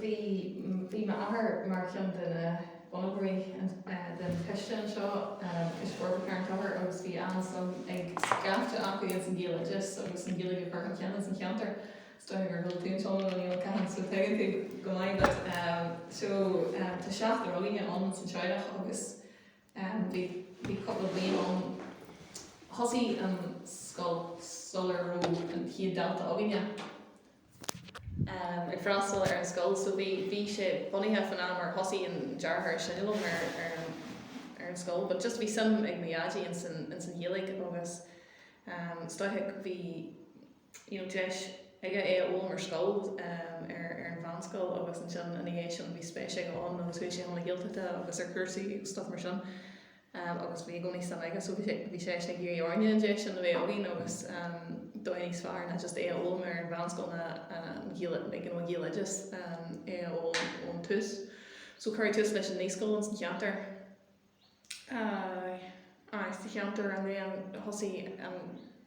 Bhí m'athair mar dhuine de na bunaitheoirí den choiste anseo, Coiste Forbartha Charn Tóchair, agus bhí an-suim ag scaifte acu ins an Ghaeloideas agus an Ghaeilge a chur chun cinn ins an cheantar. Is dóigh liom gur bhuail tú le Niall Ó Catháin so tuigeann tú go maith but so tá seachtar againne ann ins an teaghlach agus bhí cúpla bliain ann, thosaigh an scoil sular raibh an chéad dalta againne. ag freastal ar an scoil so bhí bhí sé bunaithe fan am ar thosaigh an deartháir is sine liom ar ar an ar an scoil but just bhí suim ag mo Dhaidí in san in san Ghaeilge agus is dóigh bhí you know deis aige é a fhoghlaim ar scoil ar ar an mheánscoil agus ansin ina dhiaidh sin bhí spéis aige ann agus chuaigh sé chun na Gaeltachta agus ar chúrsaí agus stuff mar sin agus bhí i gcónaí suim aige so bhí sé ag iarraidh orainne an deis sin a bheith againn agus ar dhóigh níos fearr ná just é a fhoghlaim ar an mheánscoil ná like you know Gaeloideas é a fhoghlaim ón tús. So cuireadh tús leis an naíscoil ins an cheantar. Aye aye sa cheantar and then thosaigh an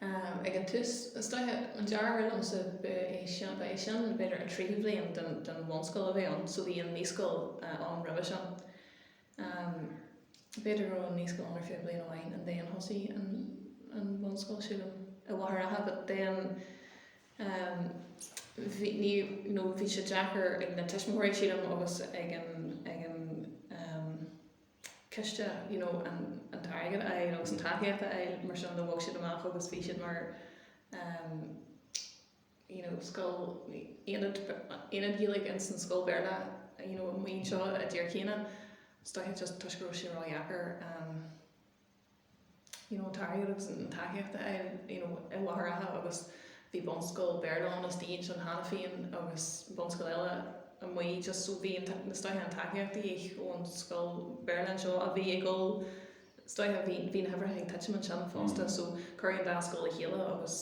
Ag an tús, is dóigh, an deartháir liomsa, ba é sin, ba é sin b'fhéidir an tríú bhliain den, den bhunscoil a bheith ann, so bhí an naíscoil ann roimhe sin. B'fhéidir go raibh an naíscoil ann ar feadh bliain amháin and then thosaigh an, an bhunscoil sílim, i Machaire Rátha but then bhí, ní, no, bhí sé deacair ag na tuismitheoirí sílim agus ag an, ag an, coiste, you know, an t-airgead a fháil agus an tacaíocht a fháil mar sin de bhog siad amach agus bhí siad mar, um, you know, scoil, aonad, aonad Gaeilge ins an scoil Bhéarla, you know, amuigh anseo i dTír Chiana. Is dóigh just toisc go raibh sé ró-dheacair, um. you know an t-airgead agus an tacaíocht a fháil i Machaire Rátha agus bhí bunscoil Béarla ann istigh ansin cheana féin agus bunscoil eile amuigh just so bhí is dóigh an tacaíocht de dhíth ón scoil Béarla anseo a bhí ag dul is dóigh bhí na huimhreacha ag titim ansin fosta so cuireadh an dá scoil le chéile agus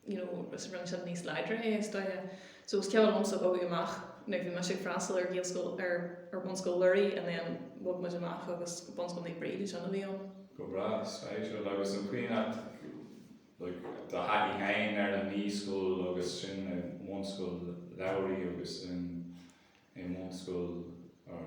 you know, is rinne sin níos láidre é, is dóigh. So is cuimhin liomsa ag bogadh amach, like bhí mise ag freastal ar Ghaelscoil, ar, ar Bhunscoil Lúraigh and then bhog muid amach agus Bunscoil Naomh Bríd, is ainm don. Go breá, is féidir leat, agus an chaoi nach, like, do thaithí féin ar na naíscoileanna agus sin i mBunscoil Lúraigh agus in, i mBunscoil, or,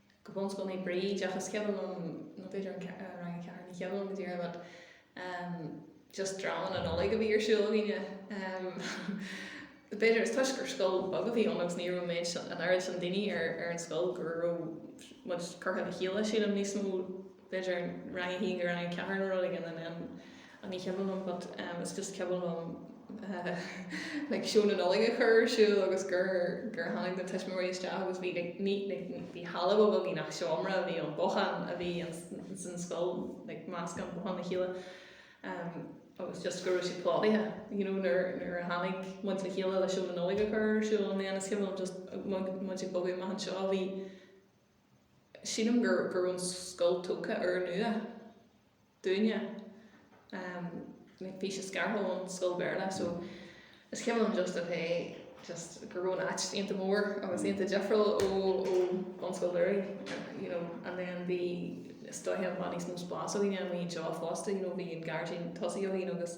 go Bunscoil Naomh Bríd ach is cuimhin liom nó b'fhéidir an rang a ceathair ní cuimhin liom go díreach but ehm just dráma na Nollag a bhí ar siúl againne ehm b'fhéidir is toisc gur scoil bheag a bhí ann agus ní raibh an méid an oiread sin daoine ar ar an scoil go raibh muid curtha le chéile sílim níos mó b'fhéidir rang a haon go rang a ceathair nó rud éigin and then oh ní cuimhin liom but um is just cuimhin liom like seó na Nollag a chur ar siúl agus gur gur tháinig na tuismitheoirí isteach agus bhí like ní like bhí halla beag againn nach seomra a bhí ann bothán a bhí insan scoil like meascán bothán le chéile um agus just go raibh sé plódaithe you know nuair nuair a tháinig muid le chéile le seó na Nollag a chur ar siúl and then is cuimhin liom just muid ag bogadh amach anseo bhí sílim gur go raibh an scoil tógtha úrnua dúinne ehm like bhí sé scartha ón scoil Bhéarla so is cuimhin liom just ok just go raibh an áit iontach mór agus iontach difriúil ó ó bunscoil Luraigh you know and then bhí is dóiche then bhí níos mó spás againn amuigh anseo fosta you know bhí an gairdín tosaigh againn agus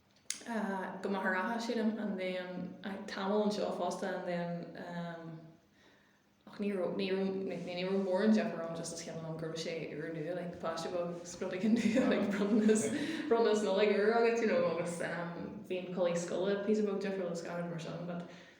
go Machaire Rátha, sílim, and then eh tamall anseo fosta, and then ehm ach ní raibh, ní raibh, ní raibh, ní raibh mórán deifir ann just is cuimhin liom go raibh sé úrnua, like píosa beag exciting you know, like bronntanas, bronntanas Nollag úr agat, you know, agus bhí an culaith scoile píosa beag difriúil is gach rud mar sin but,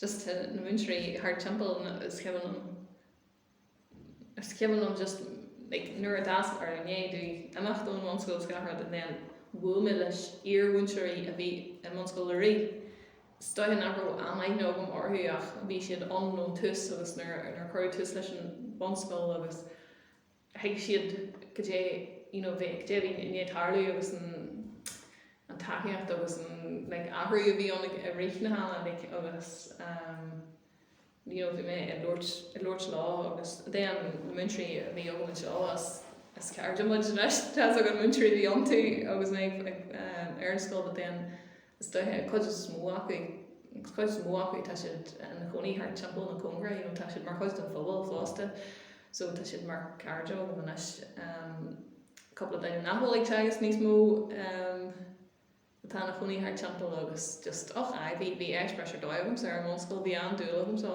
just na múinteoirí thart timpeall na is cuimhin liom is cuimhin liom just like nuair a d'fhás mé or i ndiaidh domh imeacht ón bhunscoil is gach rud and then bhuail mé leis iar-mhúinteoirí a bhí i mbunscoil Luraigh is dóiche nach raibh aon aithne agam orthu ach bhí siad ann ón tús agus nuair a nuair a cuireadh tús leis an bunscoil agus thuig siad goidé you know a bhí i ndiaidh tarlú agus an an tacaíocht agus an like athrú a bhí ann i rith na healaíne like agus ehm you know bhí mé ag labhairt ag labhairt leo agus then na múinteoirí a bhí agam anseo is is cairde muid anois tá 's agam na múinteoirí a bhí iontu agus mé ag ehm ar an scoil but then Is dóiche, an chuid is mó acu, an chuid is mó acu tá siad ina chónaí thart timpeall na ceantair, you know, tá siad mar chuid den phobal fosta, so tá siad mar cairde agam anois. Um, cúpla daoine nach bhfuil ag teagasc níos mó um, atá ina chónaí thart timpeall agus just, och, aye, bhí, bhí eispéireas ar dóigh agamsa ar an bhunscoil, bhí an-dúil agam sa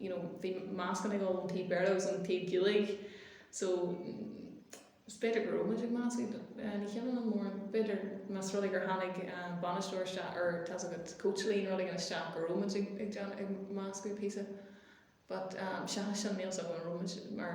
you know, bhí meascán ag dul ón taobh Béarla agus ón taobh Gaeilge so is b'fhéidir go raibh muid ag meascadh eh, lena chéile an mór, b'fhéidir más rud é gur tháinig bainisteoir isteach or tá's agat coach like nó rud éigin isteach go raibh muid ag ag meascadh píosa but seachas sin níl 's agam an raibh muid mar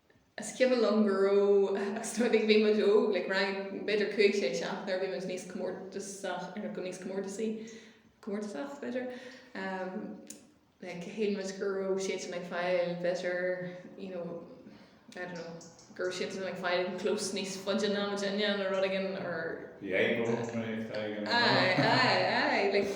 Is cuimhin liom go raibh, agus nuair a bhí, bhí muid óg, like rang, b'fhéidir cúig, sé, seacht, nuair a bhí muid níos comórtasach, or go níos comórtasaí, comórtasach b'fhéidir, ehm, like shíl muid go raibh siadsan ag fáil b'fhéidir, you know, I don't know, go raibh siadsan ag fáil clós níos faide ná muidinne nó rud éigin or. The ego, right, aye, aye, aye, like.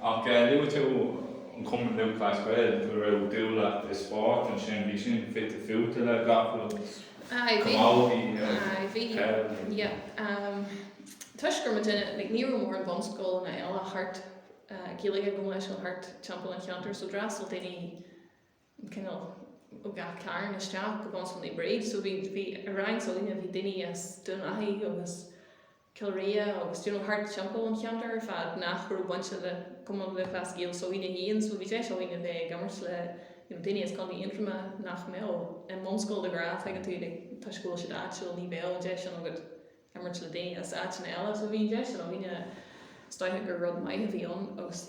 Ach luaigh tú an Cumann Lúthchleas Gael go raibh dúil agat i spórt ansin, bhí sin fite fuaite le gach rud, camógaí, peil. Toisc go mbeadh daoine, like ní raibh mórán bunscoileanna eile thart, Gaeilge go mbeadh sin thart timpeall an cheantair so d'fhreastail daoine, an cineál ó gach cearn isteach go Bunscoil Naomh Bríd so bhí bhí i rang s'againne bhí daoine as Dún Lathaí agus Cill Ria agus you know thart timpeall an cheantair ar fad nach raibh bainte le Cumann Lúthchleas Gael s'againne so bhí deis againn a bheith ag imirt le you know daoine as Contae Aontroma nach mbeadh i mbunscoil de ghnáth tuigeann tú like toisc go bhfuil siad áitiúil ní bheadh an deis sin agat imirt le daoine as áiteanna eile so bhí an deis sin againn is dóigh gur rud maith a bhí ann agus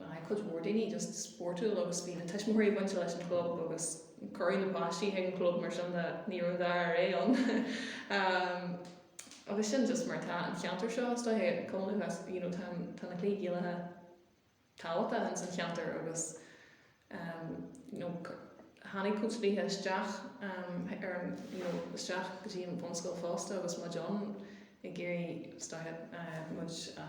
Bhí cuid mhór daoine just spórtúil agus bhí na tuismitheoirí bainte leis an chlub agus cuireadh na páistí chuig an chlub mar sin de ní raibh an dara rogha ann. Agus sin just mar atá an cheantar seo is dóigh, go háirithe you know tá tá na cluichí Gaelacha tábhachtach ins an cheantar agus you know tháinig cúpla daoine isteach ar you know isteach go dtí an bhunscoil fosta agus muid ann ag iarraidh is dóigh muid a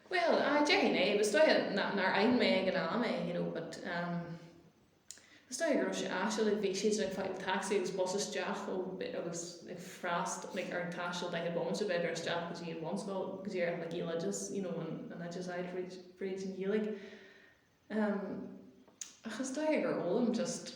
Bhuel, déarfainn é. Is dóigh nár aithin mé ag an am é, you know, but ehm, is dóigh go raibh sé áisiúil, like bhí siad ag fáil taxi agus bus isteach ó, agus ag freast, like ar an taisteal they had moments of either isteach go dtí an bhunscoil, go dtí an Gaeloideas, you know, an, an oideachas s'acu fríd, fríd an Ghaeilge. Ehm, ach is dóigh gur fhoghlaim just.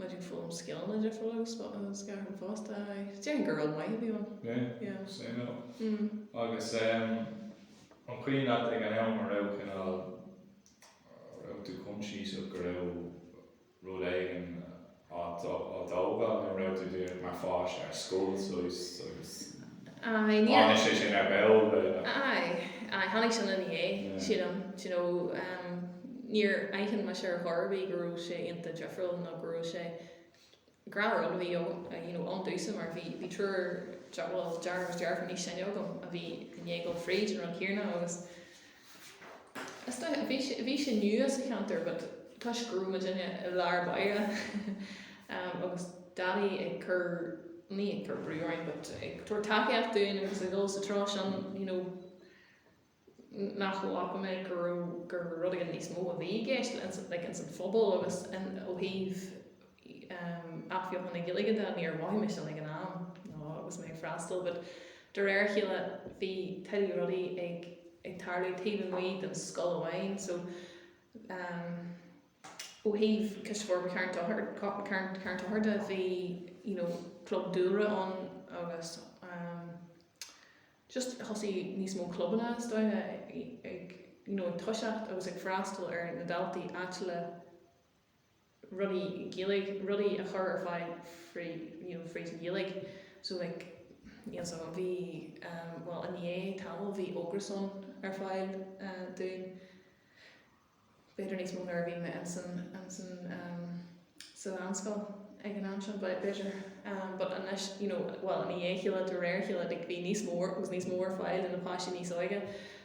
Muid ag foghlaim scileanna ar dheifir agus scair chun fosta. Déarfainn gur rud maith a bhí ann. Yeah, suimiúil. Agus an cuimhin leat ag an am a raibh cineál, a raibh tú conscious go raibh rud éigin á thógáil nó raibh tú mar pháiste ar scoil, so, agus. Aye, níor. Tháinig sé sin ar ball, b'fhéidir. Aye, aye, tháinig sin ina dhiaidh, sílim. D'you know, níor aithin mise ar chor ar bith go raibh sé ionta difriúil nó go raibh sé. Gnáthrud a bhí ann, you know, ón dtús mar bhí, bhí triúr, bhuel, deartháir agus deirfiúr níos sine agam a bhí i ndiaidh dul fríd an rud céarna agus, Is dóigh, bhí sé, bhí sé nua sa cheantar but toisc go raibh muid ina, i lár báire ehm agus Daidí ag cur, ní ag cur brú orainn but ag tabhairt tacaíocht dúinn agus ag dul sa treo sin you know nach bhfaca mé go raibh, gur rud éigin níos mó a bhí i gceist ins an, like ins an phobal agus in, ó thaobh, athbheochan na Gaeilge de, níor mhothaigh mé sin ag an am nó agus mé ag freastal but de réir a chéile bhí tuilleadh rudaí ag tarlú taobh amuigh den scoil amháin so ó thaobh Coiste Forbartha Charn Tóchair Charn Charn Tóchair de bhí you know club dúlra ann agus just thosaigh níos mó clubanna is dóigh ag you know ag toiseacht agus ag freastal ar na daltaí áitiúla rudaí Gaeilge, rudaí a chur ar fáil fríd, you know, fríd an Ghaeilge. So like, you know, so bhí, ehm, bhuel, i ndiaidh tamaill bhí Ógras ann ar fáil, eh, dúinn. B'fhéidir níos mó nuair a bhí mé ins an, ins an, ehm, sa mheánscoil ag an am sin, but b'fhéidir, ehm, but anois, you know, bhuel, i ndiaidh a chéile, de réir a chéile, like bhí níos mó, agus níos mó ar fáil do na páistí níos óige.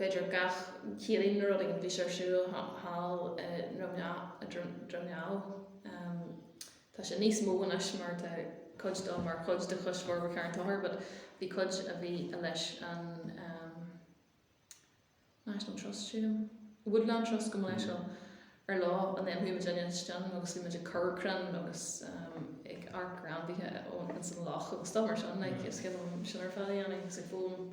b'fhéidir, gach seachtain nó rud éigin, bhí sé ar siúl thall i nDroim nDamh. Tá sé níos mó anois mar tá cuid de mar chuid de Choiste Forbartha Charn Tóchair but bhí cuid a bhí i leis an National Trust, sílim, Woodland Trust go mba leis leo. Ar lá an then bhí muid istigh ansin agus bhí muid ag cur crainn agus ag amharc ar ainmhithe ins an loch agus stuff mar sin like is you know sin ar fad a dhéanamh agus ag foghlaim.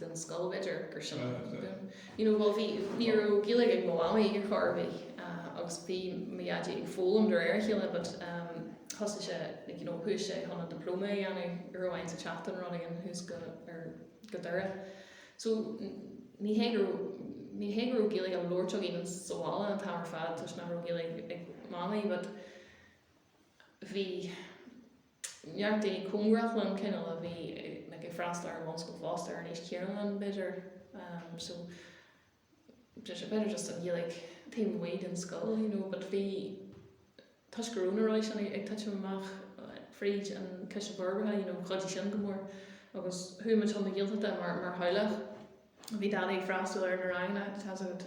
den scoil b'fhéidir ar sin you know bhuel bhí ní raibh Gaeilge ag mo mhamaí ar chor ar bith agus bhí mo dhaidí ag foghlaim de réir a chéile but umm thosaigh sé like you know chuaigh sé chun an diploma a dhéanamh go raibh fonn air tabhairt faoin rud éigin ó thús go go deireadh so ní hé go raibh ní hé go raibh Gaeilge á labhairt againn sa bhaile an t-am ar fad toisc nach raibh Gaeilge ag mamaí but bhí Neart daoine cóngarach liom cineál a bhí ag freastal ar an mbunscoil fosta ar an aois chéanna liom, b'fhéidir. So, b'fhéidir just an Ghaeilge taobh amuigh den scoil, you know, but bhí, toisc go raibh na rudaí sin ag titim amach fríd an Choiste Forbartha, you know, chuidigh sin go mór. Agus chuaigh muid chun na Gaeltachta mar theaghlach. Bhí Daidí ag freastal ar na ranganna atá agat.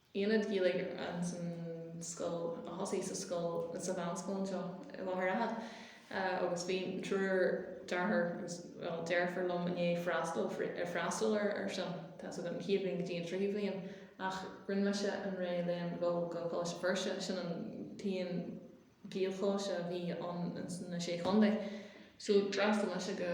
Aonad Gaeilge an san scoil a thosaigh sa scoil sa mheánscoil anseo i Machaire Rátha agus bhí triúr deartháir agus bhuel deirfiúr liom i ndiaidh freastal ar freastal ar ar sin tá so an chéad bhliain go dtí an tríú bhliain ach rinne mise an réamhléim go go Coláiste Feirste sin an t-aon Ghaelcholáiste a bhí ann in san na Sé Chontae so d'fhreastail mise go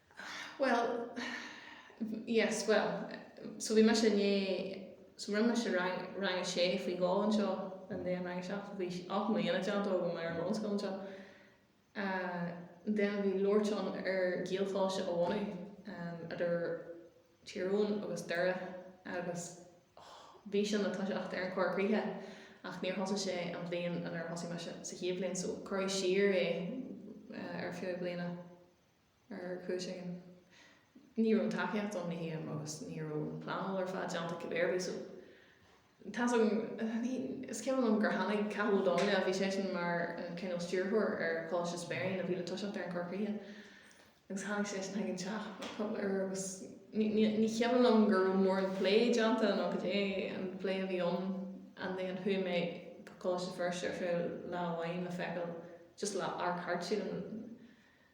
Bhuel, yes, bhuel, so bhí mise inné, so rinne mise rang, rang a sé faoi dhó anseo and then rang a seacht, bhí ocht mbliana déanta agam ar an mbunscoil anseo, then bhí labhairt ann ar Ghaelcholáiste a bhunú idir Tír Eoghain agus Doire agus bhí sé le toiseacht ar an Chorr Chríochach ach níor thosaigh sé an bhliain inar thosaigh mise, sa chéad bhliain, so cuireadh siar é ar feadh bliana. ar chúis éigin, ní raibh an tacaíocht ann le haon agus ní raibh an pleanáil ar fad déanta cibé ar bith so tá an, ní, is cuimhin liom gur tháinig Cathal Ó Donnghaile, bhí seisean mar an cineál stiúrthóir ar Choláiste Speirín a bhí le toiseacht ar an Chorr Chríochach agus tháinig seisean chuig an teach ar agus ní, ní, ní chuimhin liom go raibh mórán plé déanta nó cad é an plé a bhí ann and then chuaigh mé go Coláiste Feirste ar feadh lá amháin le feiceáil just lá, ar cuairt siad an,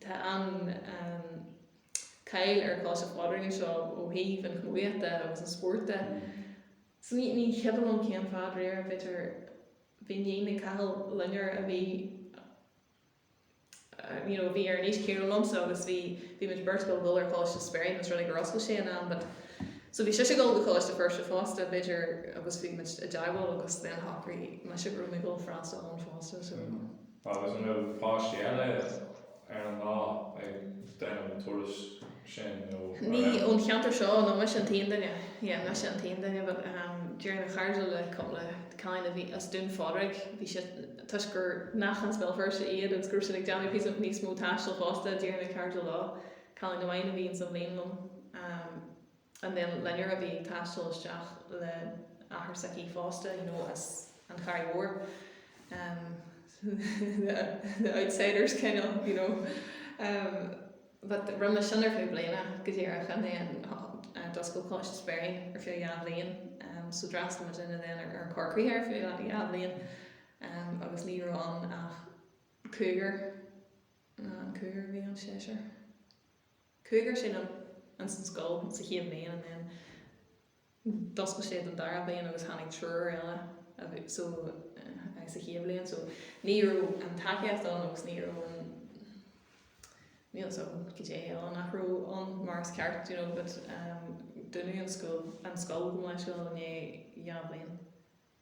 Tá an cháil ar Choláiste Phádraig anseo ó thaobh an chamógaíochta agus an spóirt de. Ní cuimhin liom cén fáth dáiríre but bhí iníon ag Cathal, Loinnir, a bhí you know a bhí ar an aois céanna liomsa agus bhí bhí muid beirt ag dul ar Choláiste Speirín más rud é gur oscail sé in am but so bhí sise ag dul go Coláiste Feirste fosta b'fhéidir agus bhí muid i dteagmháil agus then shocraigh mise go raibh mé ag dul freastal ann fosta so Agus an raibh páistí eile ar an lá ag déanamh an turais sin nó an Ní raibh? ón cheantar seo, no, mise an t-aon duine. Yeah, mise an t-aon duine but ehm d'éirigh mé cairdiúil le cúpla cailín a bhí as Dún Phádraig, bhí siad, toisc gur nach as Béal Feirste iad agus go raibh siad ag déanamh píosa níos mó taistil fosta, d'éirigh mé cairdiúil leo, cailín amháin a bhí ins an bhliain liom, ehm, and then Loinnir a bhí ag taisteal isteach le athair s'aici fosta, you know, as an Charraig Mhór, um, the outsiders kind of, you know, um, but rinne mé sin ar feadh bliana go díreach and then d'oscail Coláiste Speirín ar feadh dhá bhliain, um, so d'fhreastail muidinne then ar an Chorr Chríochach ar feadh dhá dhá bhliain, um, agus ní raibh ann ach cúigear, nó an cúigear a bhí ann, seisear. Cúigear sílim ins an scoil sa chéad bhliain and then d'oscail sé don dara bliain agus tháinig triúr eile so agus sa chéad bhliain so ní raibh an tacaíocht ann agus ní raibh an níl a fhios agam cad é eile nach raibh ann mar is ceart you know but um dúnadh an scoil go bunúsach i ndiaidh dhá bhliain.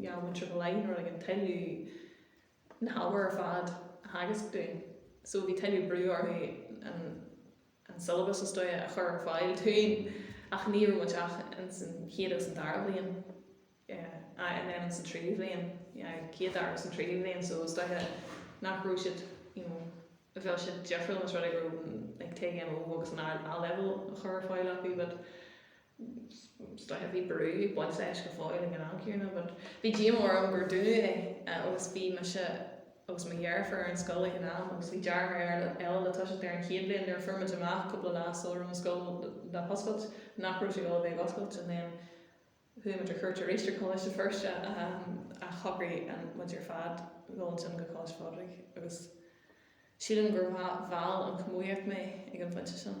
Gheobhainn seo go láidir rud éigin uilig na hábhair ar fad a theagasc dúinn. So bhí tuilleadh brú orthu an an syllabus is dóiche a chur ar fáil dúinn ach ní raibh muid ach in san chéad agus an dara bhliain. Yeah. Ah, and then in san tríú bhliain. Yeah, chéad, dara agus an tríú bhliain so is dóiche nach raibh siad, you know, bheadh siad difriúil más rud é go raibh like TGMO agus an A-level a chur ar fáil acu but is dóiche bhí brú ag baint leis go fóill ag an am céanna but bhí díomá orm gur dúnadh é agus bhí mise agus mo dheirfiúr ar an scoil ag an am agus bhí deartháir eile eile le toiseacht ar an chéad bhliain nuair a fuair muid amach cúpla lá sula raibh an scoil le hoscailt nach raibh sé dul a bheith ag oscailt and then chuaigh muid ar chuairt arís ar Choláiste Feirste um, shocraigh muid ar fad dul ansin go Coláiste Phádraig agus sílim gur bhuail an chomaoíocht mé ag an phointe sin.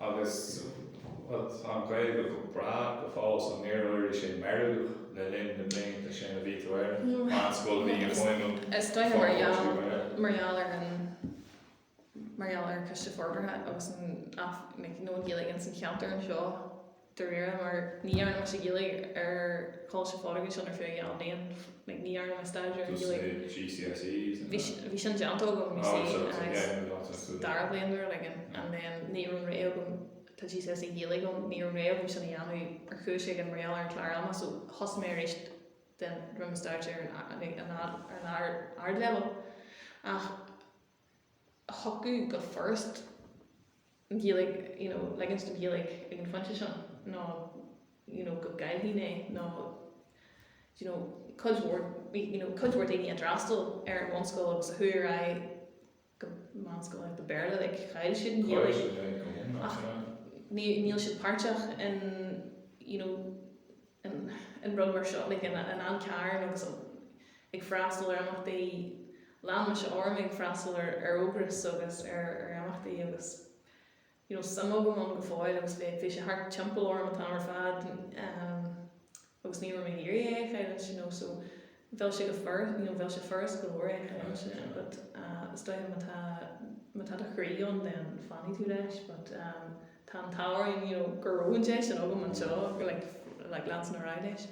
Agus tá an Ghaeilge go breá go fóill, so níor éirigh sé meirgeach le linn na blianta sin a bhí tú ar an meánscoil, bhí an fhuaim Is dóiche mar gheall, foclóirí mar. mar gheall ar an, mar gheall ar an Choiste Forbartha agus an, you know, an Ghaeilge ins an cheantar anseo, dáiríre, mar ní dhearna mise Gaeilge ar Choláiste Phádraig ansin ar feadh a dheich mbliain, like ní dhearna mé staidéar ar Gaeilge. Dúirt tú GCSEs and that. Bhí, bhí sin déanta agam, you see, oh, so ins an sa dara bliain nuair a like and, and then ní raibh orm, tá GCSE Gaeilge agam, ní raibh an rogha agam sin a dhéanamh ar chúis éigin mar gheall ar an clár ama so thosaigh mé arís then rinne mé staidéar ar an, like an, ar an ard, ardleibhéal ach, thiocfadh go furasta Gaeilge you know ligint don Ghaeilge ag an phointe sin nó you know go gcaillfinn é nó you know cuid mhór bhí you know cuid mhór daoine a d'fhreastail ar an bhunscoil agus a chuaigh ar aghaidh go meánscoil Béarla like chaill siad an Ghaeilge agus níl siad páirteach in you know an rud mar seo, like, an an Carn agus an ag freastal ar imeachtaí, lean mise orm ag freastal ar ar Ógras agus ar ar imeachtaí agus you know suim agam ann go fóill agus bhí bhí sé thart timpeall orm an t-am ar fad, ehm, agus ní raibh mé ag iarraidh é a chailleadh you know so bheadh sé go furasta, you know, bheadh sé furast go leor é a chailleadh ansin yeah, but uh, is dóiche má tá má tá do chroí ann then fanfaidh tú leis but um, tá an t-ádh orm you know, go raibh an deis sin agam anseo le leanstan ar aghaidh leis.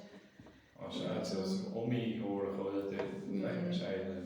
Á se óí óir a chola dé le sé le.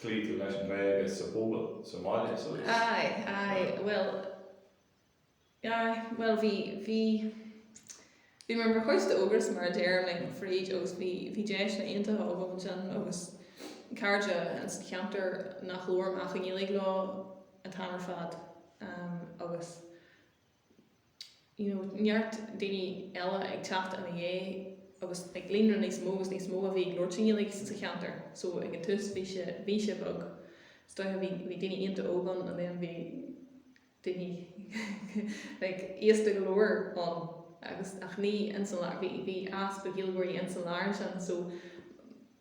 chloígh tú leis an nGaeilge sa phobal sa mbaile so is, Aye, aye, yeah. bhuel, aye, bhuel bhí, bhí, bhí mé mar chuid d'Ógras mar a deirim like mm. fríd agus bhí, bhí deiseanna iontacha agam ansin agus cairde ins an cheantar nach labhraim ach i nGaeilge leo an t-am ar fad um, agus you know neart daoine eile ag teacht ina dhiaidh agus like líonra níos mó agus níos mó a bhí ag labhairt i nGaeilge sa cheantar so ag an tús bhí sé bhí sé beag is dócha bhí bhí daoine iontach óg ann and then bhí daoine like aosta go leor ann agus ach ní ins an bhí bhí easpa Gaeilgeoirí ins an lár ansin so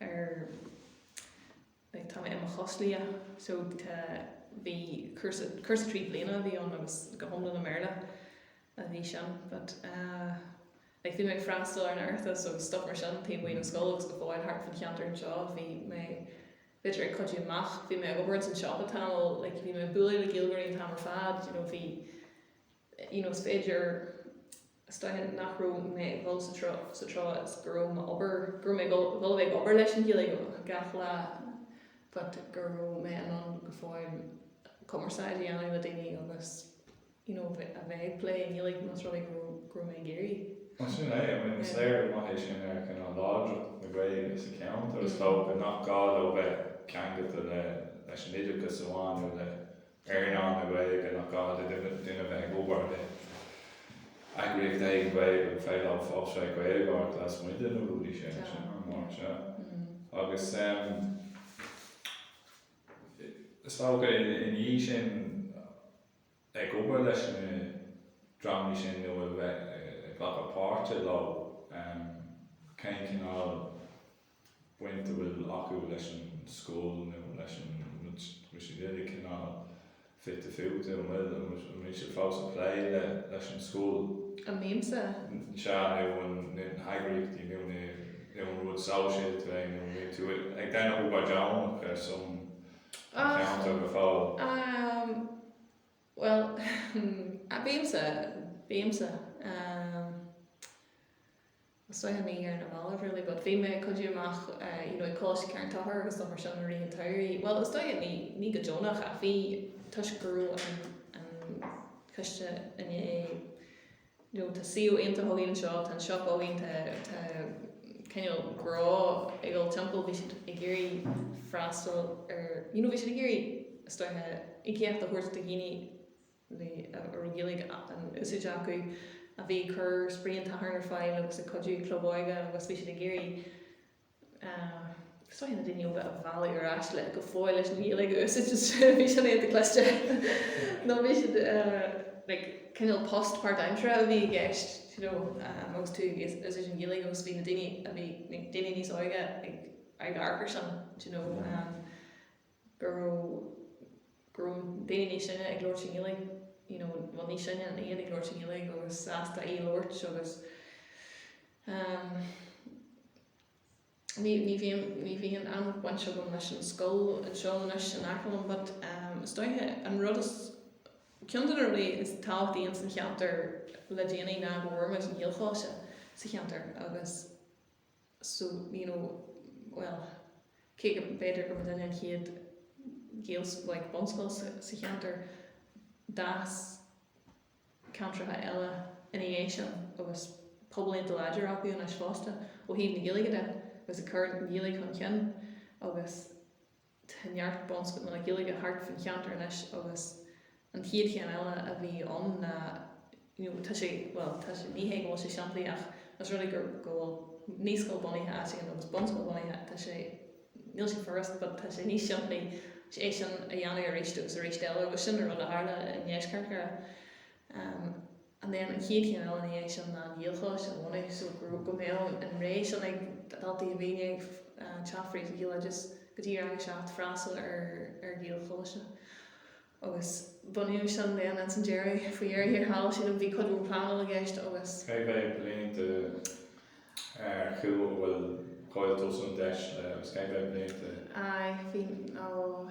ar like tá mé i mo choslia so tá bhí cúrsa cúrsa trí bliana a bhí ann agus go hiomlán i mBéarla a bhí sin but eh like bhí mé ag freastal ar an Oireachtas agus stuff mar sin taobh amuigh ón scoil agus go fóill thart faoin cheantar anseo bhí mé b'fhéidir ag cuidiú amach bhí mé ag obair ins an siopa tamall like bhí mé ag bualadh le Gaeilgeoirí an t-am ar fad you know bhí you know is féidir Is dócha nach raibh mé ag dul sa treo sa treo is go raibh m'obair, go raibh mé ag dul, dul a bheith ag obair leis an Ghaeilge gach lá but go raibh mé in ann go fóill cumarsáid a dhéanamh le daoine agus you know a bheith ag plé i nGaeilge más rud é go raibh, go raibh mé ag iarraidh. Bhuel sin é, I mean is léiriú maith é sin ar cineál láidreacht na Gaeilge sa cheantar is dócha, nach gá leo bheith ceangailte le, leis an oideachas amháin nó le earnáil na Gaeilge nach gá do dhuine bheith ag obair le heagraíocht éigin Gaeilge go bhfuil saol ag Gaeilgeoirí lasmuigh de na rudaí sin, sin an pointe. Agus is dócha i ndiaidh sin ag obair leis na dreamanna sin nó a bheith ag glacadh páirte leo, cén cineál, baint a bhfuil acu leis an scoil nó leis an uile chineál fite fuaite, an bhfuil, an bhfuil siad fós ag plé leis an scoil. an mbímse? sea nó na heagraíochtaí nó na nó an rud sóisialta é nó an mbíonn tú ag déanamh obair deonach ar son an cheantair go fóill? Amm, bhuel, hmm, bímse, bímse. Is dóiche ní ar na mallaibh really but bhí mé ag cuidiú amach eh you know ag Coláiste Charn Tóchair agus dul mar sin i rith an tsamhraidh bhuel is dóiche ní, ní go deonach ach bhí toisc go raibh an, an coiste i ndiaidh you know tá suíomh iontach againn anseo, tá an siopa againn, tá, tá cineál grá ag dul timpeall bhí siad ag iarraidh freastal ar you know bhí siad ag iarraidh is dóiche íocaíocht a thabhairt do dhaoine, bhí a raibh Gaeilge in úsáid acu, a bhí ag cur spraoi an tSathairn ar fáil agus ag cuidiú club óige agus bhí siad ag iarraidh is dóiche na daoine óga a mhealladh ar ais le go fóill leis an nGaeilge a úsáid agus bhí sin iontach cliste nó bhí siad like cineál post páirtaimseartha a bhí i gceist you know agus tú ag úsáid an Ghaeilge agus bhí na daoine a bhí daoine níos óige ag amharc ar sin you know. go raibh, go raibh daoine níos sine ag labhairt i nGaeilge, you know bhuel níos sine ná iad ag labhairt i nGaeilge agus sásta í a labhairt agus ehm ní, ní bhíonn, ní bhíonn an bhaint agam leis an scoil anseo anois in aice liom but ehm is dóiche an rud is, cionn de na rudaí is tábhachtaí ins an cheantar le déanaí ná go bhfuair muid an Gaelcholáiste sa cheantar agus, so you know well cé go mb'fhéidir gurbh í an chéad Gaelscoil like bunscoil sa, sa cheantar d'fhás ceantracha eile ina dhiaidh sin agus pobail iontach láidir acu anois fosta ó thaobh na Gaeilge de agus ag cur an Ghaeilge chun cinn agus Tá neart bunscoileanna Gaeilge thart faoin cheantar anois agus an chéad chéim eile a bhí ann ná, you know, tá sé, bhuel, tá sé, ní hé go bhfuil sé simplí ach os rud é go, go bhfuil naíscoil bunaithe áit éigin agus bunscoil bunaithe, tá sé, níl sé furast but tá sé níos simplí é sin a dhéanamh arís agus arís eile agus sin an rud a tharla i ndeisceart Dhoire. An chéad chéim eile ina dhiaidh sin ná an Gaelcholáiste a bhunú so go mbeadh an rogha sin ag daltaí a bhíonn ag teacht fríd an Ghaeloideachas go dtí rang a seacht freastal ar Ghaelcholáiste agus bunaíodh sin then ins an deireadh, faoi dheireadh thiar thall, sílim, bhí cuid mhór pleanála i gceist agus. Cé mhéad bliain de ar chúl a bhfuil Gaeltachts an deis le agus cé mhéad bliain de? Aye, bhí, ó.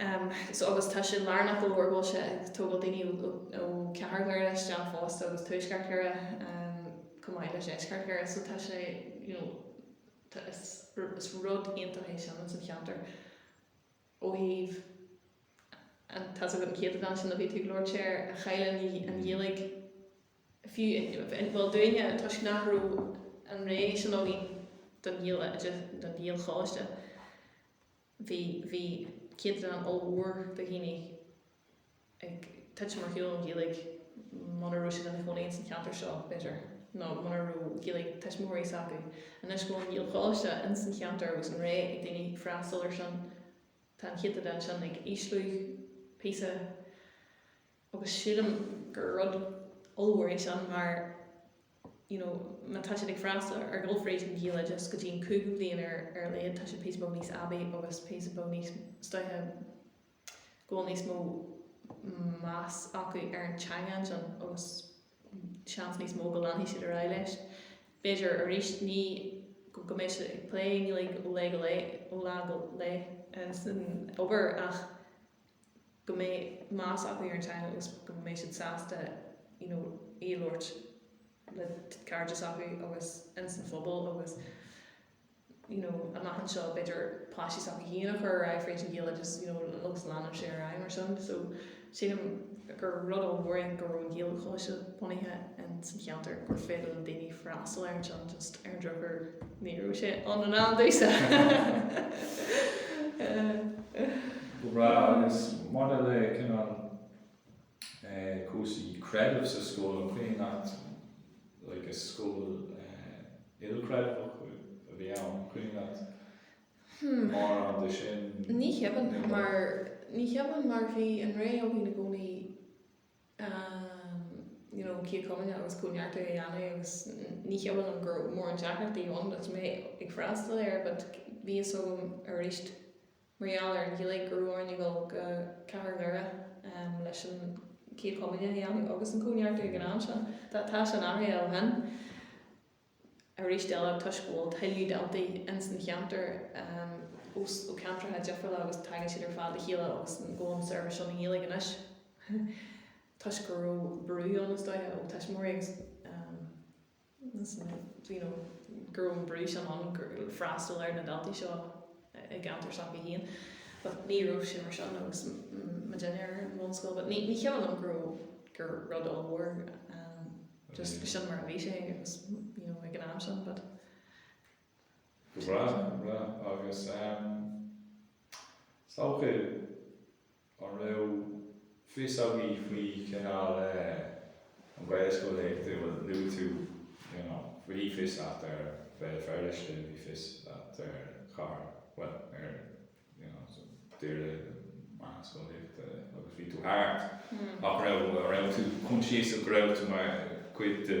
Um so agus tá sé lárnach go leor go bhfuil sé ag tógáil daoine ó ó chathair Dhoire isteach fosta agus tuaisceart Dhoire um chomh maith le deisceart Dhoire so tá sé you know tá is is rud iontach é sin ins an cheantar ó thaobh an tá's agat an céatadán sin a bhí tú ag labhairt ar a chaill an an Ghaeilge fiú i mo bhliain toisc nach raibh an rogha sin againn don Ghaeilge don Ghaelcholáiste vi, Bhí céatadán ollmhór de dhaoine ag titim ar shiúl ón Ghaeilge muna raibh siad ina chónaí insan cheantar seo, b'fhéidir, nó muna raibh Gaeilge ag tuismitheoirí s'acu. Anois go bhfuil an Gaelcholáiste insan cheantar agus an rogha ag daoine freastal ar sin, tá an céatadán sin ag ísliú píosa. agus sílim gur rud ollmhór é sin mar you know má tá siad ag freastal ar gabháil fríd an Ghaeloideachas go dtí an cúigiú bliain ar ar a laghad tá siad píosa beag níos aibí agus píosa beag níos stuama go bhfuil níos mó meas acu ar an teanga ansin agus seans níos mó go leanfaidh siad ar aghaidh leis. B'fhéidir arís ní go go mbeidh siad ag plé Gaeilge ó lae go lae ó lá go lae san obair ach go mbeidh meas acu ar an teanga agus go mbeidh siad sásta you know í a labhairt le cairde s'acu agus ins an phobal agus you know amach anseo b'fhéidir páistí s'acu féin a chur ar aghaidh fríd an Ghaeilge just you know agus leanann sé ar aghaidh mar sin so sílim gur rud ollmhór é go raibh an Gaelcholáiste bunaithe ins an cheantar gur féidir le daoine freastal air anseo just ar an drochuair ní raibh sé ann in am domhsa. agus maidir le cineál cúrsaí creidimh sa scoil, an Caitliceach like is scoil Chaitliceach a bhí ann, Ní hionann, ní hionann mar bhí an rogha againn i gcónaí you know Céad Chomaoineach agus Comhneartú a dhéanamh agus ní hionann agus gur mór an deacracht í ann agus mé ag freastal air but bhí fhios agam arís mar gheall ar an Ghaeilge go raibh orainn a dhul go Cathair Dhoire leis an chéad chomaoineach a dhéanamh agus an Comhneartú ag an am sin. Tá sin athraithe ó shin arís eile toisc go bhfuil tuilleadh daltaí ins an cheantar ó cheantracha difriúla agus tagann siad ar fad le chéile agus go bhfuil an tseirbhís seo i nGaeilge anois toisc go raibh brú ann is dóiche ó thuismitheoirí agus. do you know, go raibh an brú sin ann go raibh freastal ar na daltaí seo i gceantar s'acu féin but ní raibh sé mar sin agus mé féin ar an bhunscoil but ní, ní cuimhin liom go raibh, gur rud ollmhór ehm just bhí sin mar a bhí sé agus you know ag an am sin but Go breá, go breá agus ehm is dócha. An raibh fios agaibh faoi chineál an Ghaelscolaíocht? Bhuel, luaigh tú, you know, bhí fios agat ar Bhéal Feirste, bhí fios agat ar Chathair, bhuel, ar, you know, so Doire mar na scolaíochta agus bhí tú thart. Nach raibh, raibh tú conscious go raibh tú mar chuid de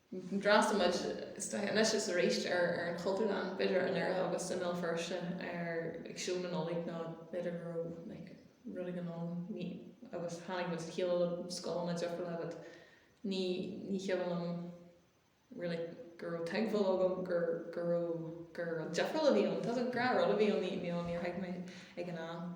D'fhreastail muid anois is arís ar an Chultúrlann, b'fhéidir i nDoire agus i mBéal Feirste ag seó na Nollag nó b'fhéidir go raibh rud éigin ar siúl agus tháinig muid le chéile le scoileanna difriúla but ní cuimhin liom really go raibh tuigbheáil agam gur raibh, gur rud difriúil a bhí ann. Tá fhios agam gur rud a bhí ann, níor thuig mé ag an am.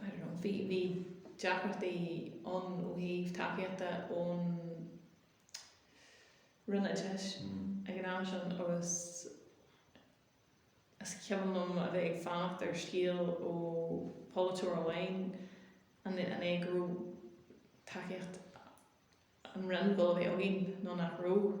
I don't know, bhí, bhí deacrachtaí ann ó thaobh tacaíochta ón Roinn Oideachais ag an am sin agus is cuimhin liom a bheith ag fanacht ar scéal ó pholaiteoir amháin an é, an é go raibh tacaíocht an Roinn ag gabháil a bheith againn nó nach raibh.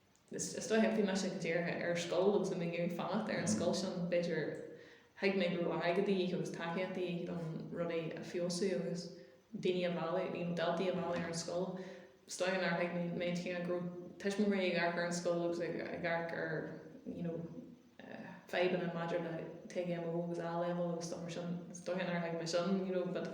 Is dóigh, thiocfadh mise go dtí an scoil agus mé ag iarraidh fanacht ar an scoil sin, b'fhéidir, thuig mé go raibh airgead de dhíth agus tacaíocht de dhíth chun rudaí a fheabhsú agus daoine a mhealladh, you know, daltaí a mhealladh chuig an scoil. Is dóigh nár thuig mé an cinneadh go raibh tuismitheoirí ag amharc ar an scoil agus ag amharc ar, you know, fadhbanna maidir le TGMO agus A-Leibhéal agus stuff mar sin. Is dóigh nár thuig mé sin, you know, but.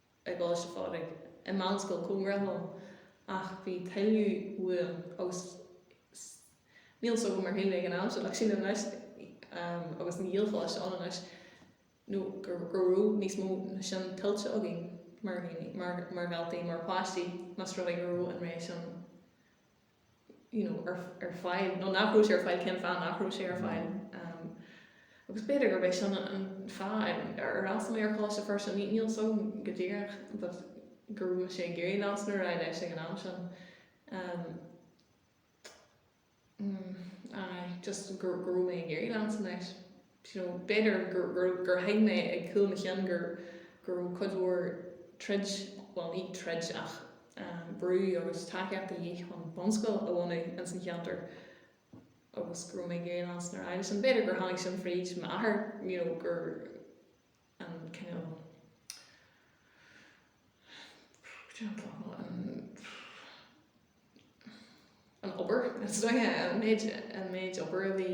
i gColáiste Phádraig, i meánscoil cóngarach dom, ach bhí tuilleadh uaim agus níl fhios agam ar shíl mé ag an am sin ach sin anois agus an Ghaelcholáiste ann anois nó go raibh níos mó ná sin tuillte againn mar dhaoine, mar dhaltaí, mar pháistí, más rud é go raibh an rogha sin. ar fáil nó nach raibh sé ar fáil, cén fáth nach raibh sé ar fáil. Agus b'fhéidir gurb é sin an fáth ar fhreastail mé ar Choláiste Feirste, níl 'fhios agam go díreach but go raibh sé ag iarraidh leanstan ar aghaidh leis ag an am sin. Aye, just go raibh mé ag iarraidh leanstan leis. do you know b'fhéidir gur gur gur thuig mé ag cúl mo chinn gur go raibh cuid mhór troid bhuel ní troid ach ehm brú agus tacaíocht de dhíth chun bunscoil a bhunú ins an cheantar agus go raibh mé ag iarraidh leanstan leis sin b'fhéidir gur tháinig sin fríd m'athair you know gur an kind of do you know an an obair an méid an méid obair a bhí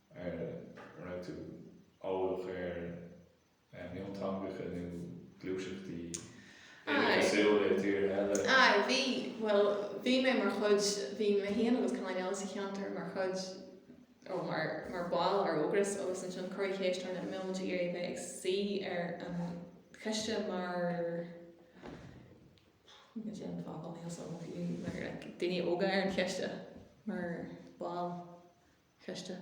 An raibh tú eolach ar mhionteangacha nó gluaiseachtaí oideachasúla i dtíortha eile? Aye, bhí, bhuel, bhí mé mar chuid, bhí mé féin agus Conán anseo sa cheantar mar chuid, oh, mar, mar bhaill ar Ógras agus ansin cuireadh ceist orainn an mbeadh muid ag iarraidh bheith ag suí ar an choiste mar, cad é an focal, níl 's agam, bhí, mar, daoine óga ar an choiste mar bhaill. Coiste.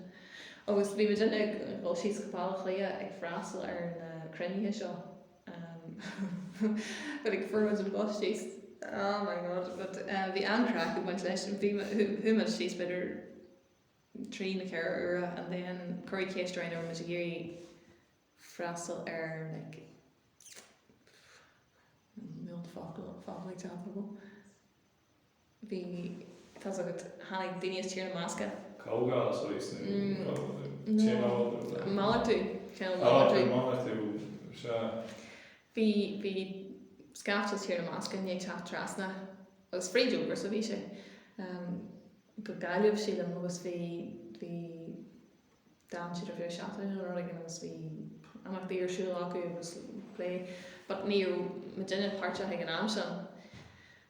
Agus bhí muid uile ag dul síos go Baile Átha Cliath ag freastal ar na cruinnithe seo. But ag fuair muid an bus síos. Oh my God, but eh, bhí an-craic ag baint leis. Bhí chuaigh muid síos b'fhéidir trí nó ceithre uaire and then cuireadh ceist orainn an raibh muid ag iarraidh freastal ar like mil focal focal ag teacht bhí tá's agat tháinig daoine as Tír na mBascach. Comhdháil seo í sna Comhdháil so maith maith malartú sin malartú malartú seo bhí bhí scaifte as Tír na mBascach ag teacht trasna agus fríd obair so bhí sé go Gaillimh sílim agus bhí bhí D'fhan siad ar feadh seachtaine nó rud éigin agus bhí imeachtaí ar siúl acu agus plé but ní raibh muidinne páirteach ag an am sin,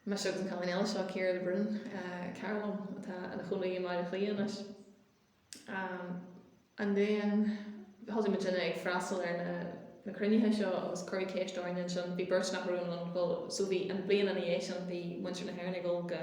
mise agus an cailín eile seo, Ciara de Brún, cara liom atá ina cónaí i mBaile Átha Cliath anois. Um, and then thosaigh muidinne ag freastal ar na, na cruinnithe seo agus cuireadh ceist orainn ansin, bhí beirt nach raibh in ann dul, so an bhliain ina dhiaidh sin bhí muintir na hÉireann ag dul go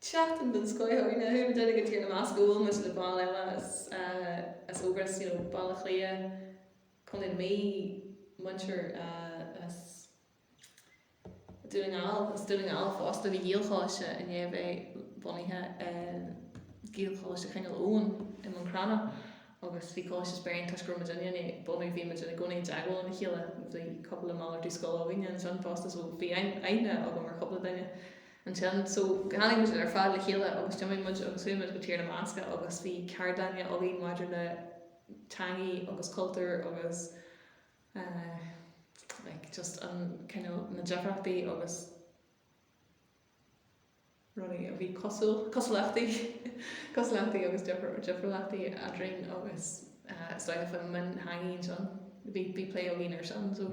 tseachtain den scoith againn chuaigh muidinne go Tír na mBascach agus bhuail muid le baill eile as as Ógras you know Baile Átha Cliath Contae na Mí muintir as Dún na nGall as Dún na nGall fosta bhí Gaelcholáiste i ndéidh bheith bunaithe in Gaelcholáiste Chineál Eoghain i mBun Cranncha agus bhí Coláiste Speirín toisc go raibh muid in ionad bunú bhí muid i gcónaí i dteagmháil lena chéile bhí cúpla malartú scoile againn ansin fosta so bhí aithne agam ar chúpla duine ansin. So tháinig muid ar fad le chéile agus d'imigh muid agus chuaigh muid go Tír na mBascach agus bhí ceardlanna againn maidir le teangaí agus cultúr agus eh like just an cineál na difríochtaí agus rudaí a bhí cosúil, cosúlachtaí, cosúlachtaí agus difr, difriúlachtaí eadrainn agus eh is dócha faoi mhionteangaí ansin bhí, bhí plé againn ar sin so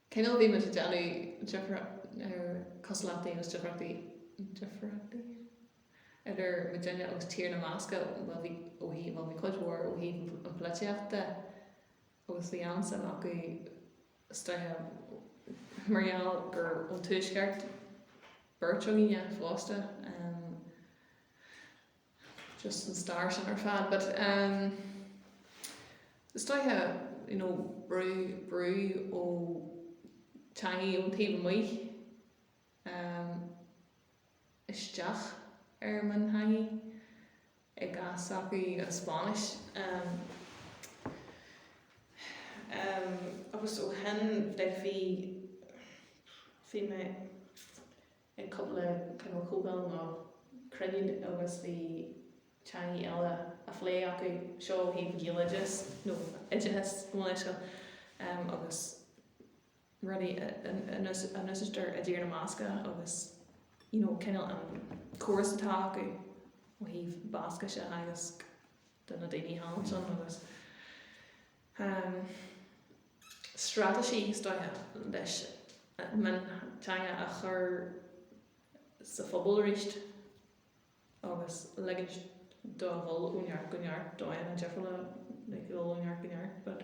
Cineál bhí muid ag déanamh díriú ar cosúlachtaí agus difríochtaí difríochtaí idir muidinne agus Tír na mBascach bhuel bhí ó thaobh bhuel bhí cuid mhór ó thaobh an pholaitíochta agus bhí an-suim acu sa stair mar gheall gur ón tuaisceart beirt againne fosta. just an stair sin ar fad but um is dócha you know brú brú ó teangaí ón taobh amuigh um, isteach ar mhionteangaí i gcás acu an Spáinnis um, um, agus ó shin i leith bhí bhí mé ag cúpla cineál comhdháil nó cruinniú agus bhí teangaí eile á phlé acu, so ó thaobh Gaeloideas nó oideachas i nGaeilge agus rudaí a n-úsáideann siad i dTír na mBascach agus you know cineál an córas atá acu ó thaobh Bascaise a theagasc. do na daoine ansin agus straitéisí is dóiche leis an mionteanga a chur sa phobal arís agus ligint dó dhul ó neart go neart, dóigheanna difriúla le dhul ó neart go neart.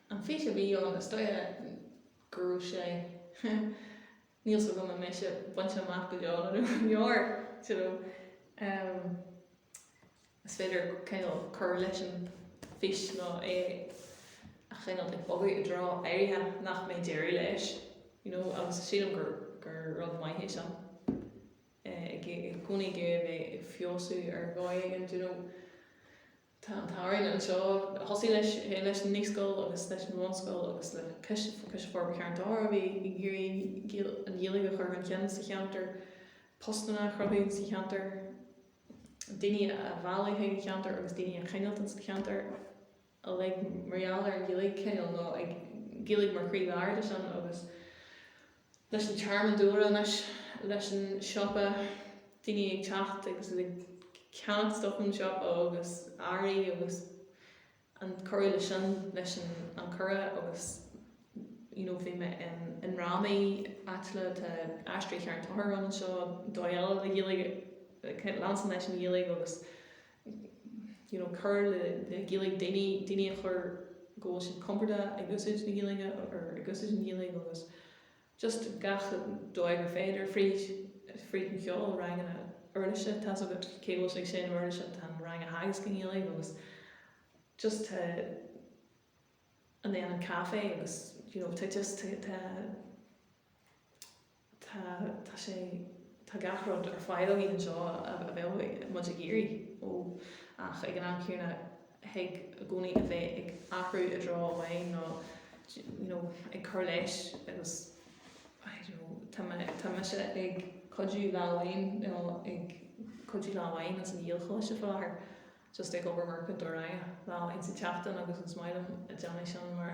An fhís a bhí acu is dóiche go raibh sé níl 's agam an mbeidh sé bainte amach go deo nó nach ndeor, you know. Is féidir cineál cur leis an fhís nó é a chineál ag bogadh i dtreo áirithe nach mbeidh deireadh leis, you know, agus sílim gur gur rud maith é sin. I gcónaí ag iarraidh a bheith ag feabhsú ar dhóigh éigin, you know. Tá an tsamhraidh anseo. Thosaigh sé leis an naíscoil agus leis an bhunscoil agus le Coiste Forbartha Charn Tóchair, a bhí ag iarraidh an Ghaeilge a chur chun cinn sa cheantar, postanna a chruthú sa cheantar, daoine a mhealladh chuig an cheantar agus daoine a choinneáilt ins an cheantar uilig mar gheall ar an Ghaeilge, cineál nó an Ghaeilge mar chroílár de sin agus. leis an tearmann dúlra anois, leis an siopa, daoine ag teacht agus iad ag ceannach stoc ón siopa agus earraí agus an cur le sin leis an cuireadh agus you know bhí mé i ndrámaí áitiúla, tá Aisteoirí Charn Tóchair ann anseo, dóigh eile le Gaeilge, leanstan leis an Ghaeilge agus. you know cur le Gaeilge daoine, daoine a chur go bhfuil siad compordach ag úsáid na Gaeilge or ag úsáid an Ghaeilge agus just gach dóigh gur féidir fríd, fríd an cheol, ranganna uirlise atá agat, cé go bhfuil sé ag seinm uirlise tá an rang á theagasc i nGaeilge agus just tá and then an caifé agus you know tá just tá tá, tá sé, tá gach rud ar fáil againn anseo a bheadh muid ag iarraidh ó ach ag an am céanna thig i gcónaí a bheith ag athrú i dtreo amháin nó you know ag cur leis agus I don't know tá mé, tá mise ag cuidiú lá amháin nó ag cuidiú lá amháin ins an Ghaelcholáiste faoi láthair just ag obair mar chúntóir ranga lá amháin sa tseachtain agus is maith liom ag déanamh sin mar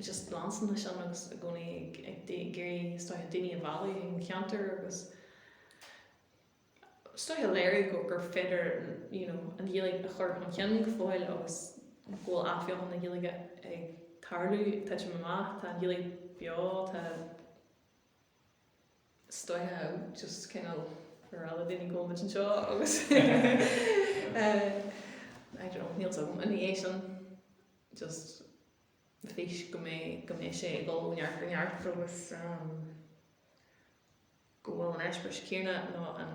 just leanstan leis sin agus i gcónaí ag iarraidh is dóiche daoine a mhealladh chuig an cheantar agus is dóiche a léiriú go gur féidir you know an Ghaeilge a chur chun cinn go fóill agus go bhfuil athbheochan na Gaeilge ag tarlú. Tá sé ag titim amach, tá an Ghaeilge beo, tá. is dóiche just cineál ar fáil do dhaoine agus muid anseo agus I don't know, níl a fhios agam an é sin just fís go mbeidh go mbeidh sé ag dul ó neart go neart agus go bhfuil an eispéiris céanna nó an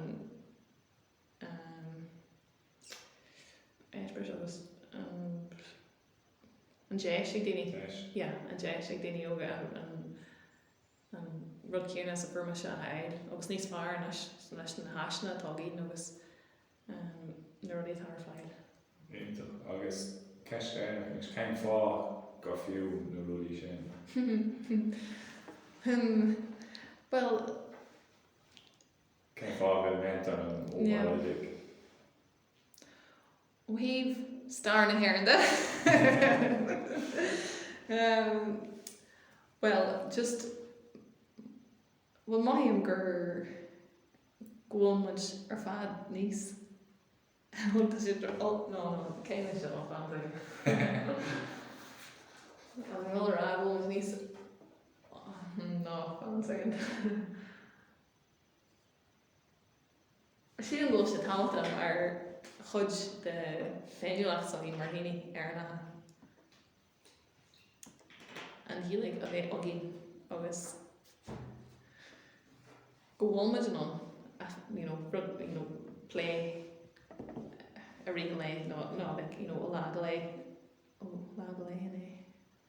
eispéiris agus an deis ag daoine yeah an deis ag daoine óga an an rud céanna is a fuair mise a fháil agus níos fearr anois leis na háiseanna atá againn agus na rudaí atá ar fáil. Iontach. Agus ceist dheireanach anois, cén fáth gur fiú na rudaí sin? Bhuel. Cén fáth a bheith meallta an Ó Muireadhaigh? Ó thaobh stair na hÉireann de, bhuel, just, bhuel, mothaím gur, go bhfuil muid ar fad níos, bhuel, tá sé, no, cé leis seo, fan, an bhfuil a rá go bhfuil muid níos, no, fan soicind. Sílim go bhfuil sé tábhachtach mar chuid de féiniúlacht s'againn mar dhaoine Éireannacha, an Ghaeilge a bheith againn agus go bhfuil muid in ann you know rud you know plé i rith an lae nó nó like you know ó lá go lá, ó lá go lá inti.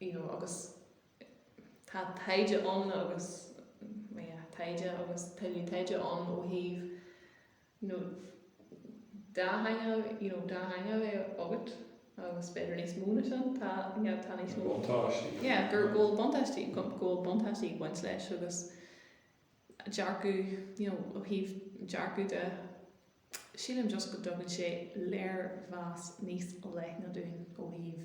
you know, agus tá taighde ann agus, well yeah, taighde agus tuilleadh taighde ann ó thaobh, you know, dáthaingeal, you know, dáthaingeal é agat agus b'fhéidir níos mó ná sin, tá, you know, tá níos mó. buntáistí. yeah, go bhfuil buntáistí, go bhfuil buntáistí ag baint leis agus dearcadh, you know, ó thaobh dearcadh de, sílim just go dtugann sé léirmheas níos leithne dúinn ó thaobh.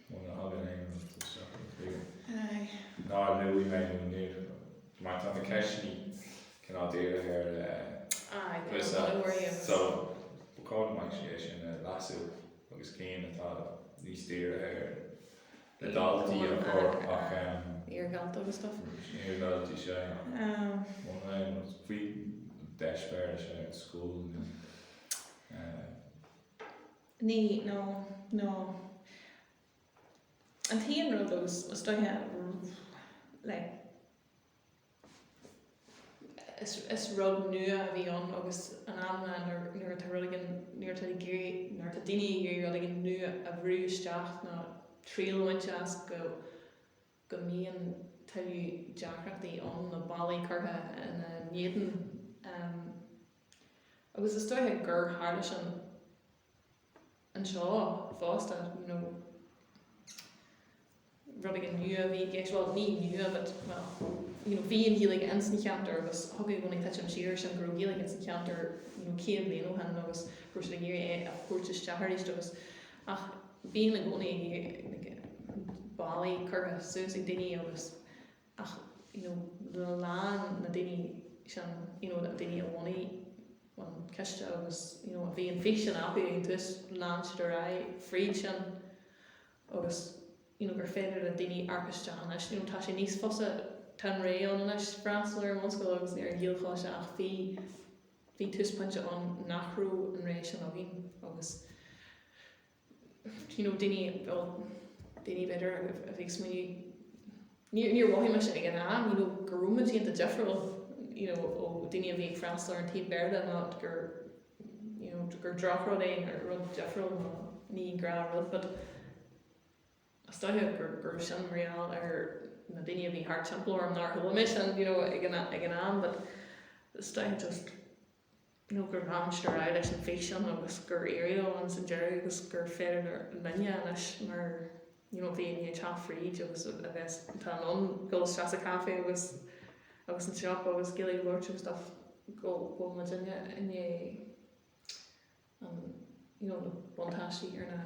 Muna thagann aon rud isteach i mo chloigeann, nár luaigh mé nó níor luaigh mé. Mar tá na ceisteannaí cineál dírithe ar Lisa, so ba chóir go mbeinn tar éis é sin a leasú agus cinn atá níos dírithe ar na daltaí a chur ach ehm. Iardhalta agus stuff. Iardhalta sé. Muna aon rud, faoi d'eispéireas scoile. Ní, nó, nó. An t-aon rud agus, is dóiche, like, is, is rud nua a bhí ann agus in amanna nuair, nuair atá rud éigin, nuair atá ag iarraidh, nuair atá daoine ag iarraidh rud éigin nua a bhrú isteach nó triail a bhaint as go, go mbíonn tuilleadh deacrachtaí ann nó ballaí curtha ina n-éadan agus is dócha gur tharla sin anseo fosta you know rud éigin nua a bhí i gceist, well ní nua but well you know bhí an Ghaeilge ins an cheantar agus thug i gcónaí titim siar sin go raibh Gaeilge ins an cheantar you know 100 bliain ó shin agus go raibh siad ag iarraidh é a thabhairt isteach arís agus Ach bíonn i gcónaí ballaí curtha suas ag daoine agus ach you know lean na daoine sin you know na daoine a bhunaigh an ciste agus you know bhí an fís sin acu ag tús lean siad ar aghaidh fríd sin agus you know gur féidir le daoine amharc isteach anois you know tá sé níos fusa tá an rogha ann anois freastal ar an bhunscoil agus ar an Ghaelcholáiste ach bhí Bhí tús pointe ann nach raibh an rogha sin againn agus you know daoine well daoine b'fhéidir a bhí ag smaoineamh níor níor mhothaigh mise ag an am you know go raibh muid iontach difriúil you know ó dhaoine a bhí ag freastal ar an taobh Béarla ná gur you know gur drochrud é nó rud difriúil nó negative rud but Is dóiche gurb é sin gheall ar na daoine a bhí thart timpeall orm nár chuala mé sin, you know, ag an am but is dóiche just you know gur lean siad ar aghaidh leis an fhís sin agus gur éirigh leo ins an deireadh agus gur féidir linne anois mar you know, bhí muidinne ag teacht fríd agus a bheith in ann dul isteach sa caife agus agus an siopa agus céilí a bheith agus stuff go bhfuil muidinne ag baint you know, buntáistí as na